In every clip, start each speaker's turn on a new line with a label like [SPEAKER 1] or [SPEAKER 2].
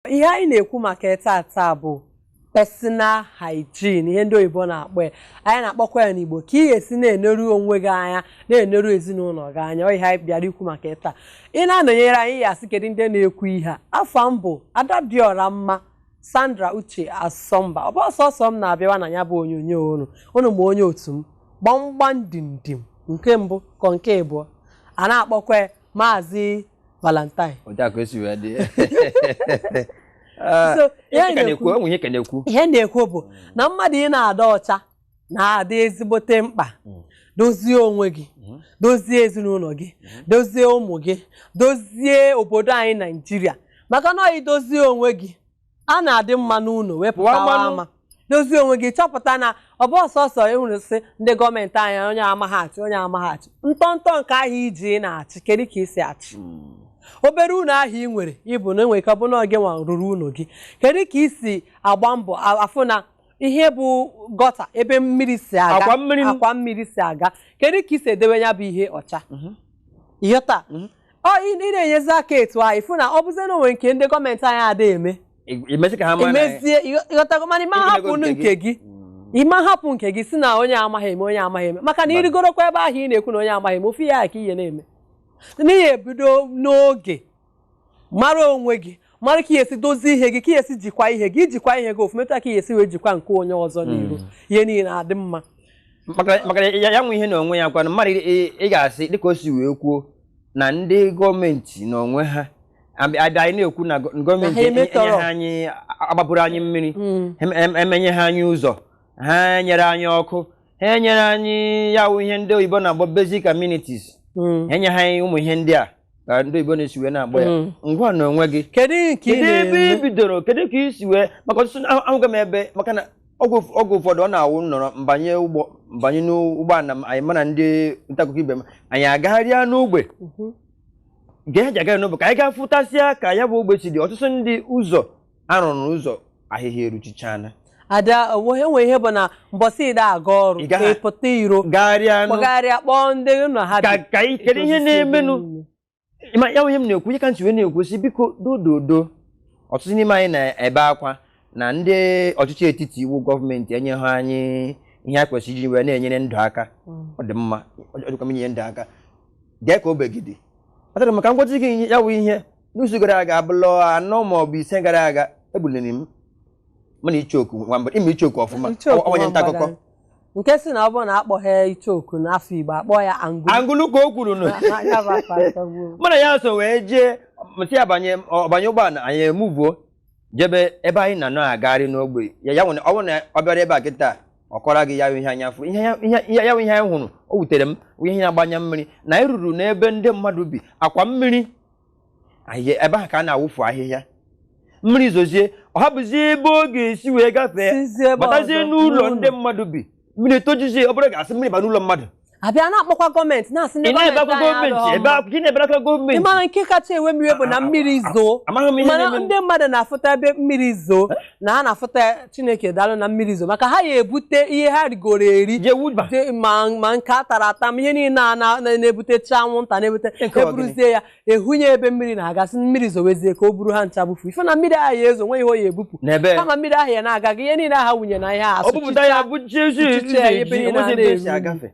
[SPEAKER 1] ihe anyị na-ekwu maka ya taa taa bụ personal hygiene ihe ndị oyibo na-akpọ ya anyị na-akpọkwa ya n'igbo ka ị ga-esi na-eneru onwe gị anya na-eneru ezinụlọ gị anya ọ ihe anyị bịara ikwu maka ya taa ị na-anọnyere anyị ị ya-asị kedu ndị na-ekwu ihe a afa m bụ Adadịọramma Sandra Uche Asọmba ọ bụrọ sọsọ m na-abịawa na ya bụ onyonyo unu unu ma onye otu m gbamgbam dim dim nke mbụ kọ nke abụọ a na-akpọkwa ya maazị valentine ihe a na-ekwu bụ na mmadụ ị na-adị ọcha na-adị ezigbote mkpa hmm. dozie onwe gị hmm. dozie ezinụlọ gị hmm. dozie ụmụ gị dozie obodo anyị naijiria maka na i dozie onwe gị a na-adị mma n'ụlọ wee pụtawa Pụwa mmanụ. ama dozie onwe gị chọpụta na ọ bụrọ sọsọ ịhụrụ sị ndị gọọmenti anyị onye amaghị achị onye amaghị achị ntọntọ nke ahụ i ji ị na-achị kedu ka i si achị obere ụlọ ahụ ị nwere ịbụ na e nwere ike ọ bụ na gị nwa rụrụ ụlọ gị kedu ka i si agba mbọ a- afụ na ihe bụ gọta ebe mmiri si aga Akwa mmiri m- akwa mmiri si aga kedu ka i si edewe ya bụ ihe ọcha ị ghọta ọ ị ị na-enyezi aka etu ahụ ị fụ na ọ bụzie na o nwe nke ndị gọọmenti anyị ada eme I- imezi ka ha mara na- emezie ịghọ- ị ghọtago mana ị ma Ịgụlego hapụ nụ nke gị Mm. ị ma hapụ nke gị sị na onye amaghị eme onye amaghị eme maka na Mba. ị rịgorokwa ebe ahụ ị na-ekwu na onye amaghị eme ofu ihe ahụ ka ị ya na-eme n'ihi ya bido n'oge mara onwe gị mara ka ị ya-esi dozie ihe gị ka ị ya-esi jikwa ihe gị i jikwa ihe gị ọfụma ị mata ka ị ya-esi wee jikwa nke onye ọzọ n'iru hmm. ihe niile na-adị mma maka
[SPEAKER 2] ya nwe ihe na onwe ya kwana mmadụ ị ga-asị dịka o si wee kwuo na ndị gọọmenti na onwe ha abịa anyị na-ekwu na gọọmenti enyeha anyị agbapụrụ anyị mmiri hmm. emenyeha anyị ụzọ ha enyere anyị ọkụ ha enyere anyị ya wụ ihe ndị oyibo na-akpọ basic amenities hmm. enyeha anyị ụmụ ihe ndị a ka ndị oyibo na-esi wee na-akpọ ya Mm. ngwa na onwe gị kedu ihe ka ị kedu
[SPEAKER 1] ebe ị na-eme
[SPEAKER 2] bidoro kedu ka i si wee maka ọtụtụ na- ahụgo m ebe maka na oge ụf- oge ụfọdụ ọ na-awụ nọrọ m banye ụgbọ m banye n'ụgbọala m anyị mụ na ndị ntaakụkọ ibe m anyị agagharịa n'ogbe Mhm. ga-eji agagharị n'ogbe ka anyị gaa fụtasịa ka ya bụ ogbe si dị ọtụtụ ndị ụzọ a rụrụ ụzọ ahịhịa eruchichana ada
[SPEAKER 1] onwe enwe ihe bụ na mbọsị ị da aga ọrụ Ị gaghị- ị pụta iro gagharịa nụ kpọgharịa kpọọ ndị nọ ha ka bi ka ị- kedu ihe Edozi
[SPEAKER 2] na-emenụ ebe niile. ma ya bụ ihe m na-ekwu ihe ka m ji wee na-ekwu sị biko dododo ọtụtụ n'ime anyị na-ebe akwa na ndị ọchịchị etiti ya wụ gọọmenti enyeghị anyị ihe a kwesịrị iji wee na-enyere ndụ aka Mm. ọ dị mma ọ dịkwa m inye ndụ aka gee ka obegide ọ dịrị maka ngwazi gị ya wụ ihe n'izu gara aga abalị anọ ma ọ bụ ise gara aga ebuliri m mụ na ichoku nwa mgbada ị ma ichoku ọfụma Ichoku ọ- onye nta akụkọ Nwambara. nke sị na ọ
[SPEAKER 1] bụrụ na akpọghị ichoku n'afọ igbo akpọ ya angulu angulu ka o kwuru
[SPEAKER 2] nụ Ya bụ afọ atọgbuo. mụ na ya so wee jee m sị ya banye ọ banye ụgbọala anyị emuvuo jebe ebe anyị na na-agagharị n'ogbe ya ya mere ọ bụrụ na ọ bịara ebe a kịta ọ kọrọ gị ya bụ ihe anya fụ ihe ya- ihe ya- ya bụ ihe anyị hụrụ o wutere m wụ ihe na-agba anya mmiri na anyị ruru n'ebe ndị mmadụ bi akwa mmiri anyị ebe ahụ ka a na-awụfu ahịhịa mmiri zozie ọ hapụzi ebe ọ ga-esi wee gafee Sizie ebe batazie ọzọ, n'ụlọ n'ụlọ. ndị mmadụ bi mmiri tojuzie ọ bụrụ ga-asị mmiri ba n'ụlọ mmadụ a bịa
[SPEAKER 1] na-akpọkwa gọọmenti na-asị ndị ị na-ebe akwa gọọmenti gọọmenti anyị ebe alụghị akwa- gị na-ebere aka ọma. gọọmenti Ị mara nke kacha ewe m iwe bụ na mmiri zoo amaghị m ihe mana na-eme ndị mmadụ na-afụta ebe mmiri zoo na ha na-afụta chineke daalụ na mmiri zoo maka ha ya ebute ihe ha rigoro eri je wuba je- ma ma nke a tara ata ma ihe niile a na- na- na-ebutecha anwụnta na-ebute Nke ọ eburuzie ya ehunye ebe mmiri na-aga sị mmiri zowezie ka o buru ha ncha bufu ife na mmiri ahụ ya ezo nwe ihe ọ ya ebupụ n'ebe kama mmiri ahụ ya na-aga gị ihe niile aha wụnye na ihe a o bupụta ya bụ chichi Chichi ya, ebe niile a na-eru. agafe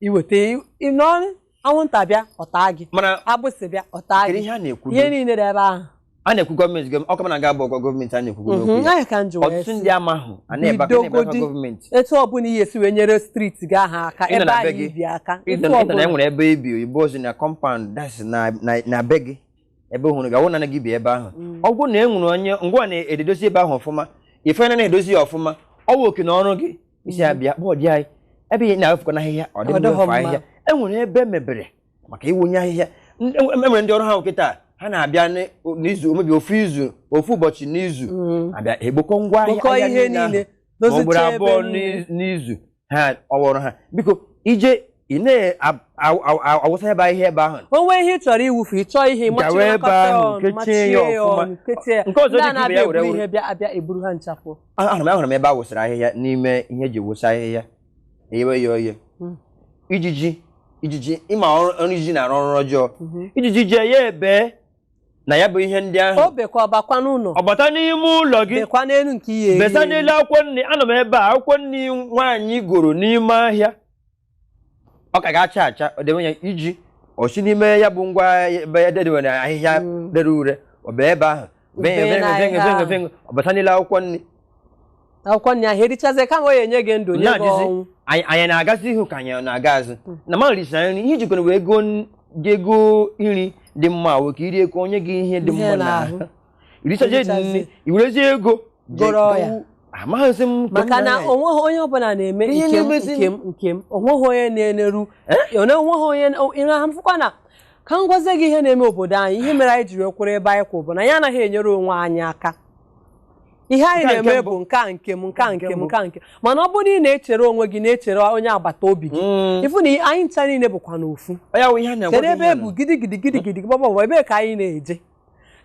[SPEAKER 1] iweta ị nọ anwụnta bịa ọ taa gị mana agbụsị bịa ọ taa gị ihe a na-ekwu ihe niile dị ebe ahụ a na-ekwu
[SPEAKER 2] gọọmenti gọọmenti ọkụ mana ga abụ ọkọ gọọmenti a na-ekwu mhm, n'okwu ya ọtụtụ ndị ama ahụ a na-ebe akwa na-ebe akwa gọọmenti etu ọ bụla ị ya-esi
[SPEAKER 1] wee nyere streeti gị ahụ aka ebe ahụ i bi aka ịnọ na e nwere
[SPEAKER 2] ebe i bi oyibo sị na kọmpaụnd das na be gị ebe hụrụ gị awụ na gị bi ebe ahụ mm. ọ bụrụ na e nwere onye ngwa na-edozi ebe ahụ ọfụma ife na na-edozi ya ọfụma ọ bụ oke na ọrụ gị isi ya bịa kpọọ di anyị ebe ị ya na-awụfukọ n'ahịhịa ọ dị Ọ dịghọ mma mma. ahịhịa e nwere ebe e mebere maka ịwụnye ahịhịa N- e e nwere ndị ọrụ ha nwoke taa ha na-abịa n- n'izu omebi ofu izu ofu ụbọchị n'izu Mm. abịa ekpokọ ngwa ahịhịa kpokọọ ahịhịa ihe niile ahụ.
[SPEAKER 1] niile ma ọ bụrụ dozicha ebe
[SPEAKER 2] abụọ niile n'iz- n'izu ha ọ wụrụ ha biko ije ị na-awụsa ebe ahịhịa ebe ahụ o nwee ihe ị chọrọ ịwụfu
[SPEAKER 1] ị chọọ ihe Gawa ịmachie ebe ahụ, ọnụ,
[SPEAKER 2] kechie machie ya ya ọfụma. ọnụ kechie ya Nke ọzọ ndị a dịka ibe ya na-abịa were eburu were. ihe bịa abịa eburu ha
[SPEAKER 1] nchapụ ahụrụ m ahụrụ m ebe
[SPEAKER 2] a wụsara ahịhịa n'ime ihe e ji wụsa ahịhịa eyewe ya oye hmm. ijiji ijiji ị ma ọrụ ijiji na-arụ ọrụ ọjọọ mhm. ijiji jee ya ebe na ya bụ ihe ndị
[SPEAKER 1] ahụ ọ bata n'ime
[SPEAKER 2] ụlọ gị besa
[SPEAKER 1] n'elu akwụkwọ nri
[SPEAKER 2] anọ m ebe a akwụkwọ nri nwaanyị goro n'ime ahịa ọ ka ga-acha acha ọ dịwe ya iji o si n'ime ya bụ ngwa ebe e dewere ahịhịa Mm. rere ure ọ bụ ebe ahụ Ube venyo venyo n'ahịhịa venyo venyo ahụ. venyo ọ bata n'elu akwụkwọ nri akwụkwọ
[SPEAKER 1] nri ahụ erichazie kama ọ ya enye gị ndụ nye gị na-ajụzi ọnwụ anyị anyị
[SPEAKER 2] na-agazi ihu ka anyị na-aga azụ na ma risa nri ihe jikọrọ wee goo n- gị ego nri dị mma wee ka i rie ka o nye gị ihe dị Ihe mma n'ahụ. n'ahụ irichazie dị Irichazie. nri iwerezie ego goro
[SPEAKER 1] ya. gbawu- amaghịzi m nke
[SPEAKER 2] m maka na na-anya. onweghị
[SPEAKER 1] onye ọbụla na-eme Ihe nke m na-emezi- nke m nke m onweghị onye na-eneru Ona- onweghị onye ịra ha mfụkwa na ka m gwazie gị ihe na-eme obodo anyị ihe mere anyị jiri kwụrụ ebe anyị kwụ bụ na anyị anaghị enyere onwe anyị aka ihe anyị Nke a nke na-eme mbụ. bụ nke a nke m nke a nke m nke a nke m. mana ọ bụrụ na ị na-echere onwe gị na-echere onye agbata obi gị Mm. ị fụ na anyị ncha niile bụkwanụ ofu Ọ ya wụ ihe a na-agwa kedu gị ebe e bu gidigidi gidigidi gbọgbọgbọ ebee ka anyị na-eje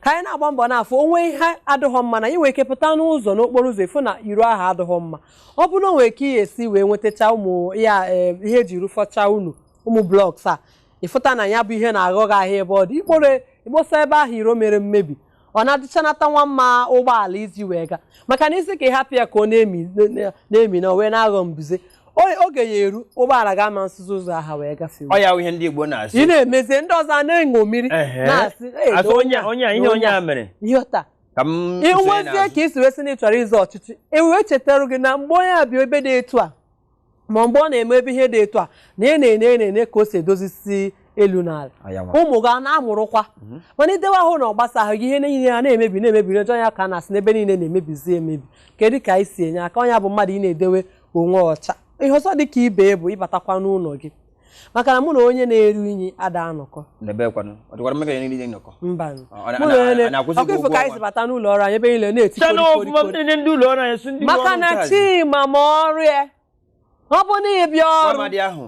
[SPEAKER 1] ka anyị na-agba mbọ n'afọ onwe ihe adịghọ mma na i nwe ike pụta n'ụzọ n'okporo ụzọ ị fụ na iro ahụ adịghọ mma ọ bụrụ na o nwere ka ị ya-esi wee nwetacha ụmụ ya eh, ihe e ji rụfọcha ụnọ ụmụ blocks a ị fụta na ya bụ ihe na-aghọ gị ahịa ebe ọ dị i kporo i kposa ebe ahụ iro mere mmebi ọ na-adịchanata nwa mma ụgbọala iji wee gaa maka na ị sị ka ị hapụ ya ka ọ na-emi na-emi na o wee na-aghọ mbuze O- oge ya-eru ụgbọala agama esizi ụzọ aha wee gafee ọ ya wụ ihe ndị Igbo
[SPEAKER 2] na-asị ị na-emezie
[SPEAKER 1] ndị
[SPEAKER 2] ọzọ
[SPEAKER 1] a na-eṅo mmiri Ehe. na-asị "Ee, Asị na onye a- onye a ihe
[SPEAKER 2] onye a mere ị ghọta ka m
[SPEAKER 1] ị sonye nwezie n'azụ. ka i si wee sị na ị chọrọ ịzọ ọchịchị e wee chetara gị na mgbe onye a bịa ebe dị etu a ma mgbe ọ na-eme ebe ihe dị etu a na ị na-ene ị na-ene ka o si edozisi elu n'ala Ọ ya nwa. ụmụ gị ana-amụrụkwa mana i dewe ahụ na ọ gbasaghị gị ihe niile a na-emebi na-emebi n'ọjọọ ya ka a na-asị na ebe niile na-emebizi emebi kedu ka anyị si enye aka onye bụ mmadụ ị na-edewe onwe ọcha ihe ọzọ dị ka ibe bụ ịbatakwa n'ụlọ gị maka na mụ na onye na-eru unyi ada anọkọ ọ kwa ị fụ ka anyị si bata n'ụlọ ọrụ anyị ebe niile na-eti maka na Chima ma ọrụ ya ọ bụ na ị bịa ọrụ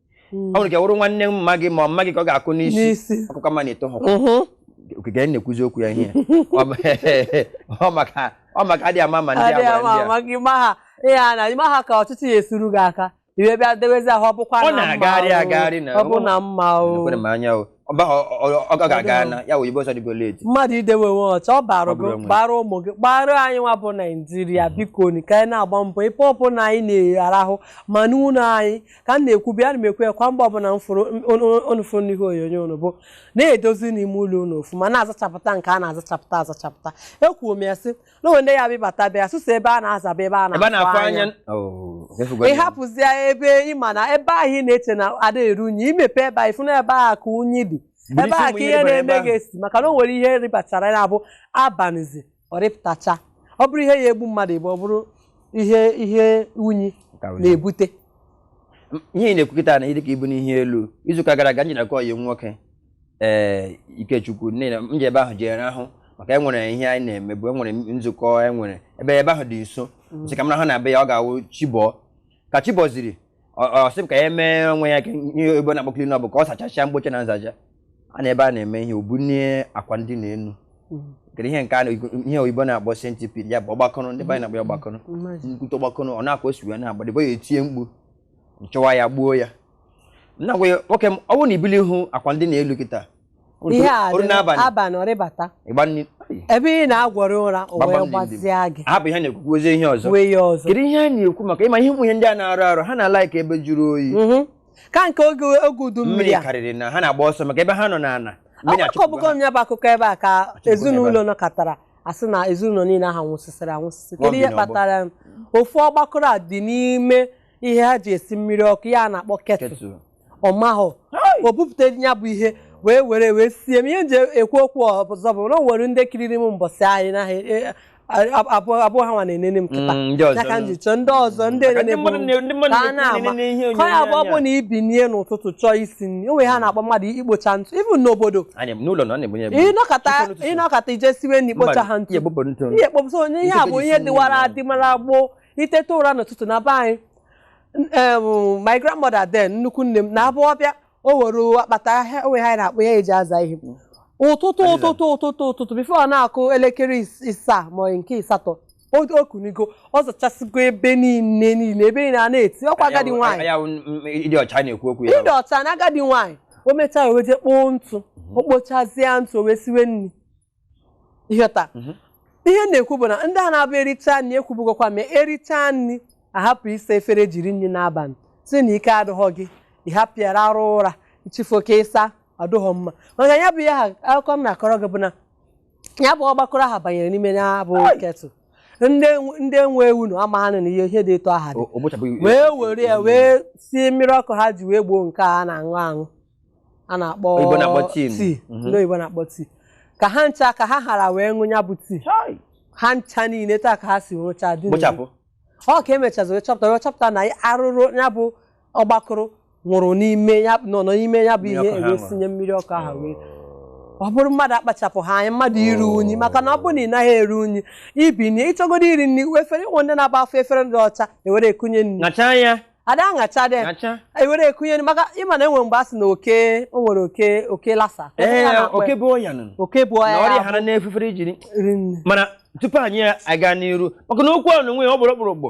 [SPEAKER 2] ọ nwere ike wụrụ nwanne mma gị ma mma gị ka ọ ga-akụ n'isi ọkụkọ mma na-eto ha okike anyị na-ekwuzi okwu ya ihe ọ maka adị ama ma ndị ama ndị a ihe
[SPEAKER 1] a na ịma ha ka ọchịchị ya esuru gị aka i wee bịa dewezi ahụ ọ bụkwa na
[SPEAKER 2] mma ọ bụ na
[SPEAKER 1] mma
[SPEAKER 2] o ọ ga-aga na ya oyibo asị ọ dịgo late mmadụ idewe onwe
[SPEAKER 1] ọcha ọ bara gị bara ụmụ gị bara anyị nwa bụ Naijiria biko ka anyị na-agba mbọ ebe ọ bụla anyị na-arahụ ma n'ụlọ anyị ka m na-ekwu bịa na m ekwu ya kwa mgbe ọbụla m fụrụ m- unu- unu- unu fụrụ n'ihe onyonyo unu bụ na-edozi n'ime ụlọ unu ofuma na-azachapụta nke a na-azachapụta azachapụta ekwuo m ya sị na o nwe ndị ya-abịa bata bịa sọsọ ebe a na-azaba ebe a ebe a na-afụ na-afụ anya anya Oh, ị fụgo ị ya. hapụzie ebe ị ma na ebe ahụ ị na-eche na ada eru unyi i mepe ebe ahụ ị fụ na ebe ahụ ka unyi dị Buru ebe isi ahụ ụmụ ka ihe ihe rịbara ebe na-eme ahụ. gị esi maka na o nwere ihe rịbachara ya bụ abanịzi ọ rịpụtacha ọ bụrụ ihe ya-egbu mmadụ egbu ọ bụrụ ihe ihe unyi na-ebute
[SPEAKER 2] ihe ị na-ekwu kịta na ịdịka ibu n'ihe elu izu ụka gara aga m je na nke ọyị nwoke ee eh, Ikechukwu nne na m je ebe ahụ jere ahụ maka enwere ihe anyị na-eme bụ enwere nzukọ enwere ebe ebe ahụ dị nso mm. sị ka m raha na be ya ọ ga-awụ chi bọọ ka chi bọziri Ọ- ọ sị m ka ya mee onwe ya ka ihe oyibo na-akpọ clean up ka ọ sachasịa mkpocha na nzacha a na ebe a na-eme ihe o bunie akwa ndina enu kedu ihe nke a na- ihe oyibo na-akpọ centipede ya bụ ọgbakọrọ ndị be anyị na-akpọ ya ọgbakọrọ Mmazi. nkwute ọgbakọrọ ọ n'akwa o si wee na-agba dịbọ ya etie mkpu m chụwa ya gbuo ya m na-agwa ya nwoke m ọ bụrụ na i bulihụ akwa ndina elu kịta ihe a Oru
[SPEAKER 1] dị n'abalị. abalị ọ rịbata ịgba
[SPEAKER 2] nri ebe
[SPEAKER 1] ị na-agwọrị ụra o Gbagba wee m n'indi. gbazia gị hapụ ihe na-ekwu kwuozie
[SPEAKER 2] ihe ọzọ wee ya ọzọ kedu ihe a
[SPEAKER 1] na-ekwu maka
[SPEAKER 2] ịma ihe ụmụ ihe ndị a na-arị arị ha na-alike ebe jụrụ oyi Mhm. ka nke oge
[SPEAKER 1] oge udu mmiri mmiri a karịrị na ha na-agba ọsọ
[SPEAKER 2] maka ebe ha nọ n'ala mmiri achụpụgo akọbugo ha. m ya
[SPEAKER 1] bụ akụkọ ebe a ka Achụpụgo ya ezinụlọ ebe nọkọtara asị na ezinụlọ niile ahụ nwụsịsịrị anwụsịsị Nwa kedu ihe bi n'ọgbọ. kpatara ya? ofu ọgbakọrọ a dị n'ime ihe ha ji esi mmiri ọkụ ya a na-akpọ ketụl Kettle. ọ mahụ o bupụta ya bụ ihe wee were wee sie m ihe m ji ekwu okwu ọzọ bụ na o nwere ndị kiriri m mbọsị anyị na abụhọ ha nwa na-enene m kịta Mm, ndị ọzọ. ya ka m ji chọọ ndị ọzọ ndị Maka ndị enene mmadụ na- ndị bụ mmadụ ka a na-ekwu na-ama enene ihe ka ọ ya bụ ọ onyonyo bụ na ibinie n'ụtụtụ chọọ isi nri o nwere ihe a na-akpọ mmadụ ikpocha ntụ even n'obodo Anyị n'ụlọ na ọ na-ebunye ebu. ị nọkata Site n'ụtụtụ. ị nọkata ị je siwe na ikpochaha ntụ Ihe bụpụ ntụ. ihe kpọpụta onye ihe a Ntụ bụ ji ihe si dịwara n'ụlọ. adịmara gboo iteta ụra n'ụtụtụ na be anyị my grandmother then nnukwu nne m na-abụ ọ bịa o were akpata ahịa o nwe ihe a na-akpọ ya eji aza ihe ụtụtụ ụtụtụ ụtụtụ ụtụtụ before ọ na-akụ elekere isaa ma nke ịsatọ o kunigo ọ zachasịgo ebe niile niile ebe niile a na-eti ọkwa agadi nwaanyị ịdị
[SPEAKER 2] ọcha na-ekwu okwu ya ịdị ọcha
[SPEAKER 1] na agadi nwaanyị o mechaa o wee je kpoo ntụ mhm. o kpochazie ntụ o wee siwe nri ịghọta mhm. ihe na-ekwu bụ na ndị a na-abụ ericha nri ekwubugokwa ma ericha nri ahapụ ịsa efere jiri nri n'abalị sị na ike adịghọ gị ịhapịara arụ ụra ichifu oke ịsa ọ dịghọ mma maka ya bụ ihe ha akụkọ m na-akọrọ gị bụ na ya bụ ọgbakọrọ aha banyere n'ime ya bụ ketụl ndị nwe ụnọ amagha na na ihe ihe dị etu aha dị wee were ya wee sie mmiri ọkụ ha ji wee gbọọ nke a na-aṅụ aṅụ a na-akpọ Oyibo na-akpọ tii m. tii Mhm. ndị oyibo na-akpọ tii ka ha ncha ka ha hara wee ṅụ ya bụ tii Chai. ha ncha niile taa ka ha si nwụcha dị n'ezi. kpochapụ ọ ka emechazi wee chọpụta wee chọpụta na arụrụ ya bụ ọgbakụrụ nwụrụ n'ime ya nọ nọ n'ime ya bụ Mmiri ihe ọkụ ha ewee ṅụrụ. sinye mmiri ọkụ ahụ wee ọ bụrụ mmadụ akpachapụha anya mmadụ iru unyi maka na ọ bụrụ na ị naghị eru unyi ibinie ịchọgodo iri nri efere e nwe ndị na-abụ a fụ efere dị ọcha ewere ekunye nri ṅachaa ya ada aṅacha dị Acha. ewere ekunye maka ịma na e nwere mgbe a sị na oke o nwere oke oke Lassa Oke Ee, ya na-akpọ oke ya. bu ọya
[SPEAKER 2] nụnụ. oke bu Na ọya ọrịa ya hara n'efere i jiri rie nri mana tupu anyị aga n'iru maka na okwu ọnụnwa ọ bụrụ ọkpụrụkpụ